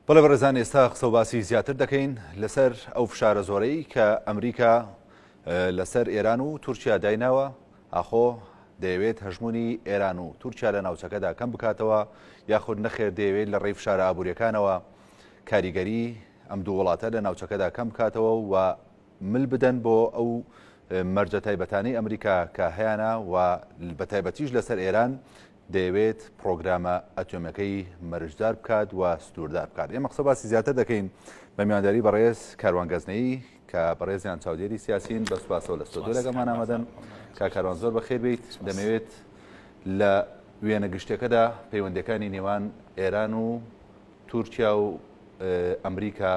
بەڵێ بەڕێزان ئێستا قسە و باسی زیاتر دەکەین لەسەر ئەو فشارە زۆرەی کە ئەمریکا لەسەر ئێران و تورکیا دایناوە ئاخۆ دەیەوێت هەژمونی ئێران و تورکیا لە ناوچەکەدا کەم بکاتەوە یاخود نەخێر دەیەوێت لە ڕێی فشارە ئابوووریەکانەوە کاریگەری ئەم دوو وڵاتە لە ناوچەکەدا کەم بکاتەوە و مل بدەن بۆ ئەو مەرجە تایبەتانی ئەمریکا کە هەیەە و بە تایبەتیش لەسەر ئێران دەیەوێت پرۆگرامە ئەتۆمەکەی مەرجدار بکات و سنووردار بکات ئێمە قسە باسی زیاتر دەکەین بە میوانداری بەڕێز کاروان گەزنەی کە بەڕێزیان چاودێری سیاسین بە سوپاسەوە لە ستۆدیۆ لەگەڵمان ئامادەن کا کاروان زۆر بەخێر بیت دەمەوێت لە وێنە گشتەکەدا پەیوەندەکانی نێوان ئێران و تورکیا و ئەمریکا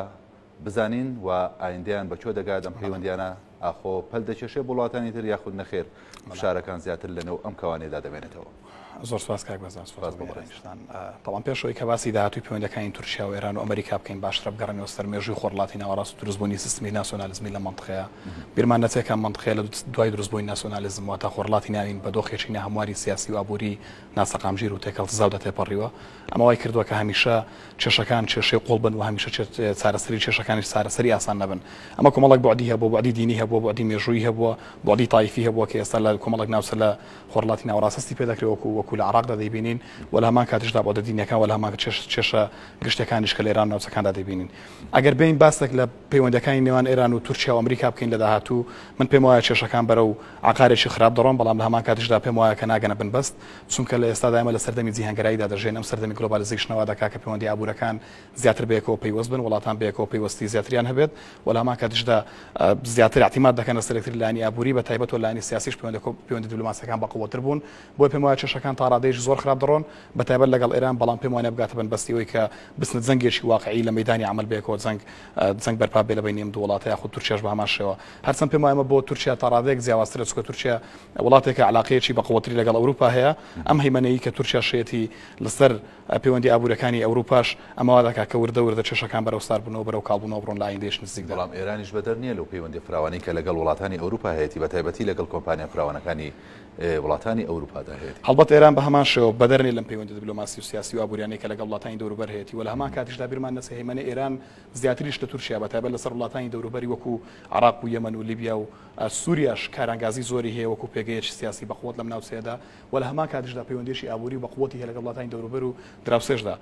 بزانین و ئایندەیان بە کوێ دەگات، ئەم پەیوەندییانە ئاخۆ پەل دەکێشێ بۆ وڵاتانی تر یاخود نەخێر، فشارەکان زیاتر لەنێو ئەم کەوانەیەدا دەمێنێتەوە. زۆر سوپاس کاک بەزان، سوپاس بۆ بەڕێزتان. بەڵام پێش ئەوەی کە باسی داهاتووی پەیوەندییەکانی تورکیا و ئێران و ئەمەریکا بکەین، باشترە بگەڕێینەوە سەر مێژووی خۆرهەڵاتی ناوەڕاست و دروستبوونی سیستمی ناسیۆنالیزمی لەم مەنتقەیە. بیرمان نەچێ کە ئەم مەنتقەیە لە دوای دروستبوونی ناسیۆنالیزم واتە خۆرهەڵاتی ناوین بە دۆخێکی ناهەمواری سیاسی و ئابووری ناسەقامگیر و تێکەڵتزاودا تێپەڕیوە. ئەمە وای کردووە کە هەمیشە کێشەکان کێشەی قوڵ بن و هەمیشە چارەسەری کێشەکانیش چارەسەری ئاسان نەبن. ئەمە کۆمەڵێک بوعدی هەبووە، بوعدی دینی هەبووە، بوعدی مێژوویی هەبووە، بوعدی تایفی هەبووە کە ئێستا لە کۆمەڵێک ناوچە لە خۆرهەڵاتی ناوەڕاست هەستی پێ دەکرێ وەکوو وەکوو لە عێڕاقدا دەیبینین و لە هەمان کاتیشدا بوعدە دینییەکان و لە هەمان کات کێشە گشتییەکانیش کە لە ئێران و ناوچەکاندا دەیبینین. ئەگەر بێین باسێک لە پەیوەندییەکانی نێوان ئێران و تورکیا و ئەمریکا بکەین لە داهاتوو، من پێم وایە کێشەکان بەرەو عەقارێکی خراپ دەڕۆن، بەڵام لە هەمان کاتیشدا پێم وایە کە ناگەنە بنبەست چونکە لە ئێستادا ئێمە لە سەردەمی جیهانگەراییدا دەژێن، ئەم سەردەمی گلۆبالیزەیشنە وا دەکات کە پێوەندییە ئابوورەکان زیاتر بەیەکەوە پەیوەست بن، وڵاتان بەیەکەوە پەیوەستی زیاتریان هەبێت و لە هەمان کاتیشدا زیاتر ئیعتیماد دەکەن لەسەر یەکتر لە لایەنی ئابووری بە تایبەت و لە لایەنی سیاسیش پەیوەندییە دیبلۆماسییەکان بەقووڵتر بوون، بۆیە پێم وایە کێشەکان تا ڕادەیەکی زۆر خراپ دەڕۆن بە تایبەت لەگەڵ ئێران، بەڵام پێم وانیە بگاتە بنبەستی ئەوەی کە بچنە جەنگێکی واقعی لە مەیدانی عەمەل بەیەکەوە جەنگ جەنگ بەرپا ببێت لە بەینی ئەم دوو وڵاتە یاخود تورکیاش بە هەمان شێوە هەرچەند پێم وایە ئەمە بۆ تورکیا تا ڕادەیەک جیاوازترە چونکە تورکیا وڵاتێکە علاقەیەکی بەقوەتری لەگەڵ ئەوروپا هەیە ئەم هەیمەنەیی کە تورکیا شێتی لەسەر پەیوەندی ئابوورەکانی ئەوروپاش ئەمە وا دەکات کە وردە وردە کێشەکان بەرەو ساربوونەوە بەرەو کاڵبوونەوە بڕۆن لە ئایندەیەکی نزیکدا. بەڵام ئێرانیش بەدەر نییە لەو پەیوەندییە فراوانەی کە لەگەڵ وڵاتانی ئەوروپا هەیەتی بەتایبەتی لەگەڵ کۆمپانیا فراوانەکانی وڵاتانی ئەوروپادا هەیەتی. هەڵبەت ئێران بە هەمان شێوە بەدەر نیە لەم پەیوەندیە دبلۆماسی و سیاسی و ئابووریانەی کە لەگەڵ وڵاتانی دەوروبەر هەیەتی و لە هەمان کاتیشدا بیرمان نەچێ هەیمەنەی ئێران زیاتریش لە تورکیا بە تایبەت لەسەر وڵاتانی دەوروبەری وەکو عێراق و یەمەن و لیبیا و سوریاش کارانگازی زۆری هەیە وەکو پێگەیەکی سیاسی بە قوت لەم ناوچەیەدا و لە هەمان کاتیشدا پەیوەندیەکی ئابووری بە قوتی هەیە لەگەڵ وڵاتانی دەوروبەر و دراوسێشدا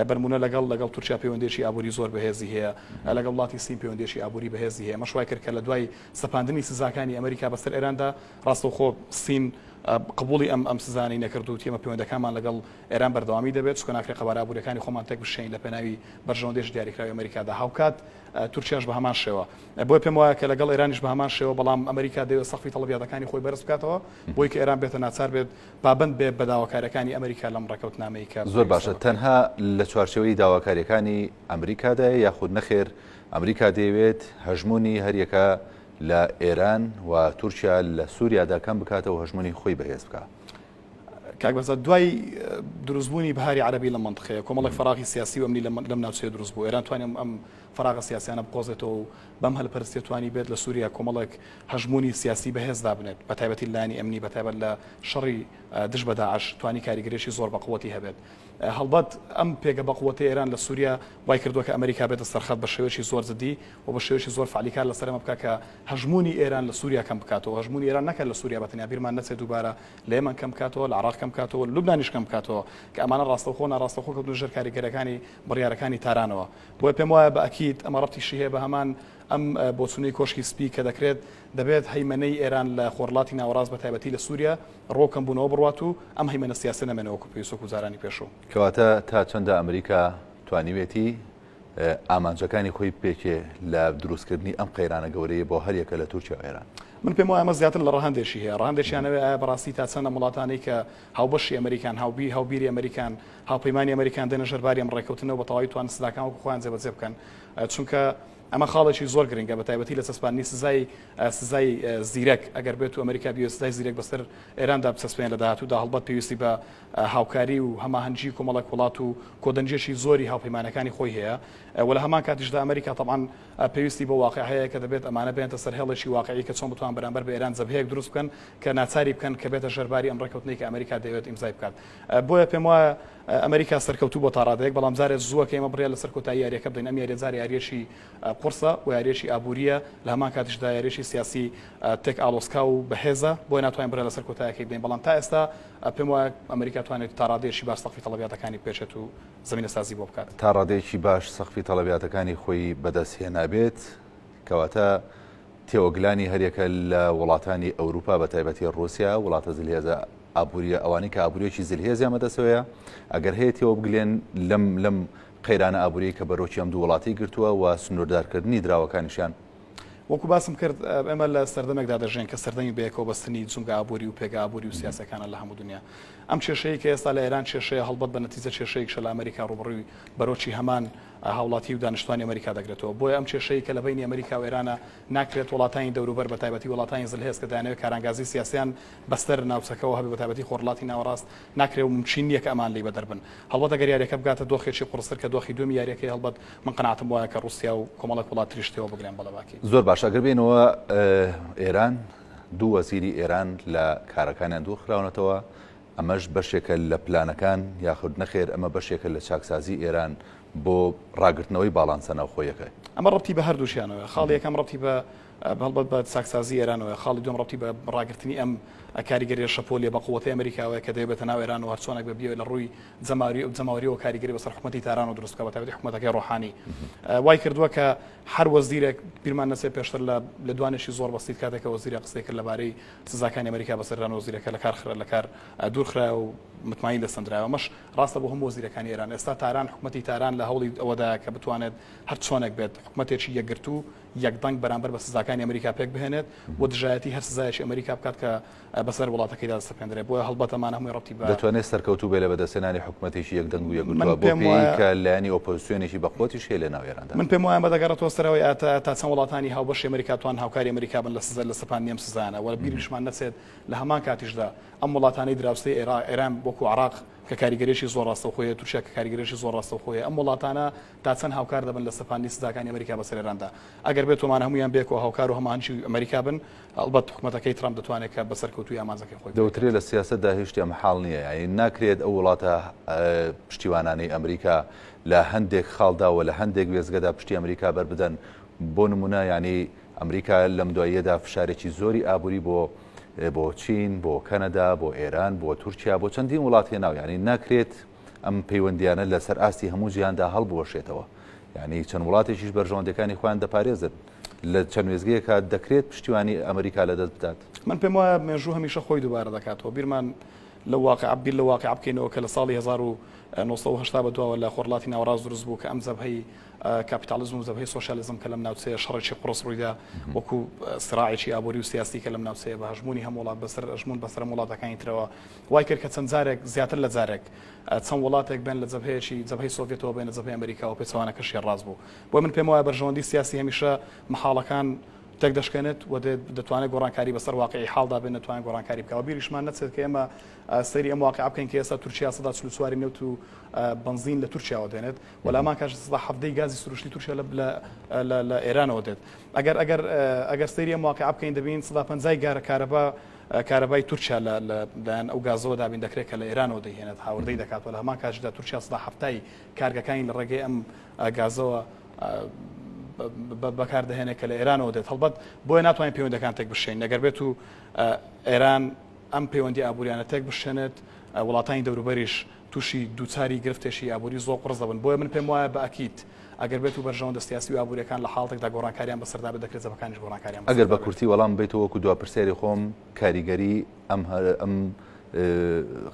بە نموونە لەگەڵ لەگەڵ تورکیا پەیوەندیەکی ئابووری زۆر بەهێزی هەیە لەگەڵ وڵاتی سین پەیوەندیەکی ئابووری بەهێزی هەیە ئەمەش وای کرد کە لە دوای سەپاندنی سزاکانی ئەمریکا بەسەر ئێراندا ڕاستەوخۆ سین قبوڵی ئەم ئەم سزانەی نەکرد و وتی ئێمە پەیوەندەکانمان لەگەڵ ئێران بەردەوامی دەبێت، چونکە ناکرێت قەبارە ئابوورییەکانی خۆمان تێکبشکێنین لە پێناوی بەرژەوەندیی دیاریکراوی ئەمەریکادا. هاوکات تورکیاش بە هەمان شێوە. بۆیە پێم وایە کە لەگەڵ ئێرانیش بە هەمان شێوە، بەڵام ئەمەریکا دەیەوێت سەقفی تەڵەبیاتەکانی خۆی بەرز بکاتەوە بۆی کە ئێران بێتە ناچار بێت پابەند بێت بە داواکارییەکانی ئەمەریکا لەم ڕێککەوتنامەی کە زۆر باشە تەنها لە چوارچێوەی داواکارییەکانی ئەمریکادایە یاخود نەخێر ئەمریکا دەیەوێت هەژموونی هەریەکە لە ئێران و تورکیا لە سوریادا کەم بکاتەوە هەژمونی خۆی بەهێز بکا. کاک بەزە دوای دروستبوونی بهاری عربی لە منطقەیە کۆمەڵک فراغی سیاسی و ئەمنی لەم ناوچەیە دروست بوو ئێران توانێت ئەم فراغە سیاسیانە بقۆزێتەوە و بەم هەلپەرستێ توانی بێت لە سووریا کۆمەڵک هەژمونی سیاسی بەهێز دابنێت بە تایبەتی لانی ئەمنی بەتایبەت لە شەڕی دژ بە داعش توانی کاریگەرێکی زۆر بە قوەتی هەبێت هەڵبەت ئەم پێگە بەقوەتەی ئێران لە سوریا وای کردووە کە ئەمەریکا بێتە سەرخەت بە شێوەیەکی زۆر جدی و بە شێوەیەکی زۆر فەعلی کار لەسەر ئەمە بکات کە هەژموونی ئێران لە سوریا کەم بکاتەوە، هەژموونی ئێران نەکە لە سوریا بەتەنیا بیرمان نەچێت دووبارە لە یەمەن کەم بکاتەوە، لە عێراق کەم بکاتەوە، لە لوبنانیش کەم بکاتەوە کە ئەمانە ڕاستەوخۆ و ناڕاستەوخۆ کەوتنە ژێر کاریگەرەکانی بڕیارەکانی تارانەوە. بۆیە پێم وایە بە ئەکید ئەمە ڕەبتیشی هەیە بە هەمان ئەم بۆچوونەی کۆشکی سپی کە دەکرێت دەبێت هەیمەنەی ئێران لە خۆرلاتی ناوەڕاست بە تایبەتی لە سوریا ڕۆ کەم بوونەوە بڕوات و ئەم هەیمەنە سیاسیە نەمێنێ وەکو پێویست وەکو جارانی پێشوو. کەواتە تا چەندە ئەمریکا توانیوێتی ئامانجەکانی خۆی بپێکێ لە دروستکردنی ئەم قەیرانە گەورەیە بۆ هەر یەکە لە تورکیا و ئێران؟ من پێم وایە ئەمە زیاتر لە ڕەهەندێکی هەیە، ڕەهەندێکیان ئەوەیە ئایا بەڕاستی تا چەند ئەم وڵاتانەی کە هاوبەشی ئەمریکان، هاوبی هاوبیری ئەمریکان، هاوپەیمانی ئەمریکان دێنە ژێر باری ئەم ڕێککەوتنەوە بە تەواوی توانن سزاکان وەکو خۆیان جێبەجێ بکەن؟ چونکە ئەمە خاڵێکی زۆر گرنگە بە تایبەتی لە چەسپاندنی سزای سزای زیرەک ئەگەر بێت و ئەمریکا بیەوێت سزای زیرەک بەسەر ئێراندا بچەسپێنێت لە داهاتوودا هەڵبەت پێویستی بە هاوکاری و هەماهەنگی کۆمەڵێک وڵات و کۆدەنگییەکی زۆری هاوپەیمانەکانی خۆی هەیە و لە هەمان کاتیشدا ئەمریکا تەبعەن پێویستی بە واقع هەیە کە دەبێت ئەمانە بێنێتە سەر هێڵێکی واقعی کە چۆن بتوان بەرامبەر بە ئێران جەبهەیەک دروست بکەن کە ناچاری بکەن کە بێتە ژەر باری ئەم ڕێککەوتنەی کە ئەمریکا دەیەوێت ئیمزای بکات بۆیە پێم وایە ئەمەریکا سەرکەوتوو بۆ تا ڕادەیەک، بەڵام جارێ زووە کە ئێمە بڕیار لەسەر کۆتایی یارییەکە بدەین، ئەم یارییە جارێ یارییەکی قوڕسە و یارییەکی ئابوورییە، لە هەمان کاتیشدا یارییەکی سیاسی تێک ئاڵۆزکاو و بەهێزە، بۆیە ناتوانین بڕیار لەسەر کۆتایەکەی بدەین، بەڵام تا ئێستا پێم وایە ئەمەریکا توانێت تا ڕادەیەکی باش سەقفی تەڵەبیاتەکانی بپێچێت و زەمینەسازی بۆ بکات. تا ڕادەیەکی باش سەقفی تەڵەبیاتەکانی خۆی بەدەست هێنابێت، کەواتە تێوەگلانی هەریەکە لە وڵاتانی ئەوروپا بەتایبەتی ڕووسیا، وڵاتە زلهێزە ئابوریە ئەوانەی کە ئابوریەکی زلهێزیان بەدەستەوەیە ئەگەر هەیە تێوەبگلێن لەم لەم قەیرانە ئابوریەی کە بەرۆکی ئەم دوو وڵاتی گرتووە و سنوردارکردنی دراوەکانیشیان وەکو باسم کرد ئێمە لە سەردەمێکدا دەژێن کە سەردەمی بەیەکەوە بەستنی جومگە ئابوری و پێگە ئابوری و سیاسەکانە لە هەموو دنیا ئەم کێشەیە کە ئێستا لە ئێران کێشەیە هەڵبەت بە نەتیجە کێشەیەکشە لە ئەمریکا ڕوبڕوی بەرۆکی هەمان هاوڵاتی و دانیشتوانی ئەمریکا دەگرێتەوە بۆیە ئەم کێشەیە کە لە بینی ئەمریکا و ئێرانە ناکرێت وڵاتانی دەوروبەر بە تایبەتی وڵاتانی زلهێز کە دەیانەوێت کارانگازی سیاسیان بەسەر ناوچەکەوە هەبێت بەتایبەتی خۆرهەڵاتی ناوەڕاست ناکرێت و مومچین نییە کە ئەمان لێی بەدەر بن هەڵبەت ئەگەر یاریەکە بگاتە دۆخێکی قوڕستر کە دۆخی دووەمی یاریەکەیە هەڵبەت من قەناعەتم وایە کە ڕوسیا و کۆمەڵێک وڵات تریش تێوە بگلێن بەڵێ باکی. زۆر باشە ئەگەر بێینەوە ئێران دوو وەزیری ئێران لە کارەکانیان دوور خراونەتەوە ئەمەش بەشێکە لە پلانەکان یاخود نەخێر ئەمە بەشێکە لە چاکسازی ئێران بۆ ڕاگرتنەوەی باڵانسە ناوخۆیەکە. ئەمە ڕەبتی بە هەردووکیانەوە خاڵی یەکەم ڕەبتی بە هەڵبەت بە چاکسازی ئێرانەوەیە. خاڵی دووەم ڕەبتی بە ڕاگرتنی ئەم کاریگەرییە شەپۆلییە بەقووەتەی ئەمریکاوەیە کە دەیەوێت بێتە ناو ئێران و هەرچۆنێک بێت بیەوێت لە ڕووی جەماوەرییەوە کاریگەری بەسەر حکومەتی تارانەوە دروست بکات بەتایبەتی حکومەتەکەی ڕۆحانی وای کردووە کە هەر وەزیرێک بیرمان نەچێت پێشتر لە لێدوانێکی زۆر بەسیت کاتێک کە وەزیرە قسەی کرد لەبارەی سزاکانی ئەمریکا بەسەر ئێران وەزیرەکە لە کار خرا لە کار دوورخرایەوە و متمانەی لەسەندرایەوە ئەمەش ڕاستە بۆ هەموو وەزیرەکانی ئێران ئێستا تاران حکومەتی تاران لە هەوڵی ئەوەدایە کە بتوانێت هەرچۆنێک بێت حکومەتێکی یەکگرتوو یەکدەنگ بەرامبەر بە سزاکانی ئەمریکا پێک بهێنێت و دژایەتی هەر سزایەکی ئەمریکا بکات کە بەسەر وڵاتەکەیدا دەسەپێندرێت بۆیە هەڵبەتەمان هەمووی ڕەبتی بە دەتوانێت سەرکەوتوو بێت لە بەدەستهێنانی حکومەتێکی یەکدەنگ و یەکگرتووە بۆ پێی کە لایەنی ئۆپۆزسیۆنێکی بەقوەتیش هەیە لەناو ئێراندا. من پێم وایە ئەمە دەگەڕێتەوە سەرەوەی ئاتا تا چەند وڵاتانی هاوبەشی ئەمریکا بتوانن هاوکاری ئەمریکا بن لە سزا لە سەپاندنی ئەم سزایانە و بیرمشمان نەچێت لە هەمان کاتیشدا ئەم وڵاتانەی دراوسێی ئێران وەکوو عێراق کە کاریگەریی زۆر ڕاستەوخۆی هەیە تورکیا کە کاریگەریی زۆر ڕاستەوخۆی هەیە ئەم وڵاتانە تا چەند هاوکار دەبن لە سەپاندنی سزاکانی ئەمەریکا بەسەر ئێراندا؟ ئەگەر بێتومان هەموویان بێکۆ هاوکار و هەماهەنگی ئەمەریکا بن، ئەڵبەت حکومەتەکەی ترەمپ دەتوانێت کە بە سەرکەوتوویی ئامانجەکەی خۆی پێ دەوترێ بگات. لە سیاسەتدا هیچ شتێ مەحاڵ نییە، یانی ناکرێت ئەو وڵاتە پشتیوانانەی ئەمریکا لە هەندێک خاڵدا و لە هەندێک وێستگەدا پشتی ئەمریکا بەر بدەن، بۆ نموونە یانی ئەمریکا لەم دواییەدا فشارێکی زۆری ئابووری بۆ بۆ چین، بۆ کەنەدا، بۆ ئێران، بۆ تورکیا، بۆ چەندین وڵات هێناو یانی ناکرێت ئەم پەیوەندیانە لەسەر ئاستی هەموو جیهاندا هەڵبوەشێتەوە یعنی چەند وڵاتێکیش بەرژەوەندەکانی خۆیان دەپارێزن لە چەند وێزگەیەکە دەکرێت پشتیوانی ئەمریکا لە دەست بدات من پێم وایە مێژوو هەمیشە خۆی دووبارە دەکاتەوە بیرمان لە واقع بیر لە واقع بکەینەوە کە لە ساڵی 1970 بە دواوە لە خۆرلاتی ناوەڕاست دروست بوو کە ئەم زەبهەی کاپیتالیزم و زەبهەی سوسیالیزم کە لەم ناوچەیە شەڕێکی قڕس ڕوویدا وەکو سراعێکی ئابووری و سیاسی کە لەم ناوچەیە بە هەژمونی هەم وڵات بەسەر ئەژمون بەسەر وڵاتەکانی ترەوە وای کرد کە چەند جارێک، زیاتر لە جارێک، چەند وڵاتێک بێن لە جەبهەیەکی، جەبهەی سۆڤیەتەوە بێنە جەبهەی ئەمریکا و پێچەوانەکەش شیێ ڕاست بوو. بۆیە من پێموایە بەرژەوەندی سیاسی هەمیشە مەحاڵەکان تێک دەشکێنێت و دێت دەتوانێت گۆڕانکاری بەسەر واقیعی حاڵدا بێنێت توانێت گۆڕانکاری بکات و بیریشمان نەچێت کە ئێمە سەیری ئەم واقیعە بکەین کە ئێستا تورکیا سەدا چل و چوار ی نەوت و بەنزین لە تورکیاوە دێنێت و لامان کاش سەدا حەڤدە ی گازی سروشتی تورکیا لە لە لە لە ئێرانەوە دێت ئەگەر ئەگەر ئەگەر سەیری ئەم واقیعە بکەین دەبینین سەدا پەنجا ی گارە کارەبا کارەبای تورکیا لە لایەن ئەو گازەوە دابین دەکرێت کە لە ئێرانەوە دەیهێنێت هاوردەی دەکات و لە هەمان کاتیشدا تورکیا سەدا حەفتا ی کارگەکانی لە ڕێگەی ئەم گازەوە بەکاردەهێنێت کە لە ئێرانەوە دێت هەڵبەت بۆیە ناتوانین پەیوەندەکان تێک بشین نەگەر بێت و ئێران ئەم پەیوەندی ئابووریانە تێک بشێنێت وڵاتانی دەوروبەریش توشی دوچاری گرفتێشی ئابوری زۆر قوڕس دەبن بۆیە من پێم وایە بە ئەکید ئەگەر بێتو بەرژەوەندە سیاسی و ئابوریەکان لە حاڵتێکدا گۆڕانکاریان بەسەردا بێت دەکرێت جەبهەکانیش گۆڕانکاریان ئەگەر بەسەردا بە بێت. کورتی وەڵام بەیتو وەکو دوا پرسیاری خۆم کاریگەری ئەم ئەم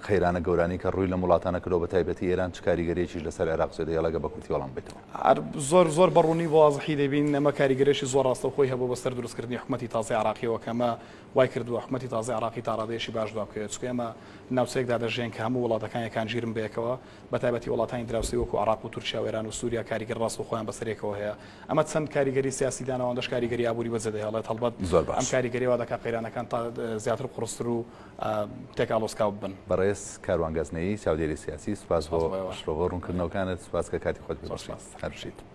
قەیرانە گەورانەی کە ڕوی لەم وڵاتانە کردوە بە تایبەتی ئێران چ کاریگەریەکیش لەسەر عێراق جێ دەهێڵێ گەر بە کورتی وەڵام بەیتەوە. ئەر زۆر زۆر بە ڕونی و وازحی دەیبین ئەمە کاریگەرێشی زۆر ڕاستەوخۆی هەبوە بەسەر دروست کردنی حکومەتی تازەی عێراقیەوە کە ئەمە وای کردووە حکومەتی تازەی عێراقی تا ڕادەیەشی باش دوا بکەوێت، چونکە ئێمە ناوچەیەکدا دەژێین کە هەموو وڵاتەکان یەکان ژیرن بە یەکەوە، بە تایبەتی وڵاتانی دراوسێی وەکو عێراق و تورکیا و ئێران و سوریا کاریگەر ڕاستگۆخۆیان بەسەر یەکەوە هەیە، ئەمە چەند کاریگەری سیاسی داناوە ئەوەندەش کاریگەری ئابووری بەجێ دەهێڵێت، هەڵبەت ئەم کاریگەریە وا دەکات قەیرانەکان تا زیاتر قوڕستر و تێک ئاڵۆزکاو ببن. بەڕێز کاروان گەزنەیی چاودێری سیاسی، سوپاس بۆ شرۆڤە و ڕوونکردنەوەکانت، سوپاس کە کاتی خۆت پێ بەخشیت. هەربژیت.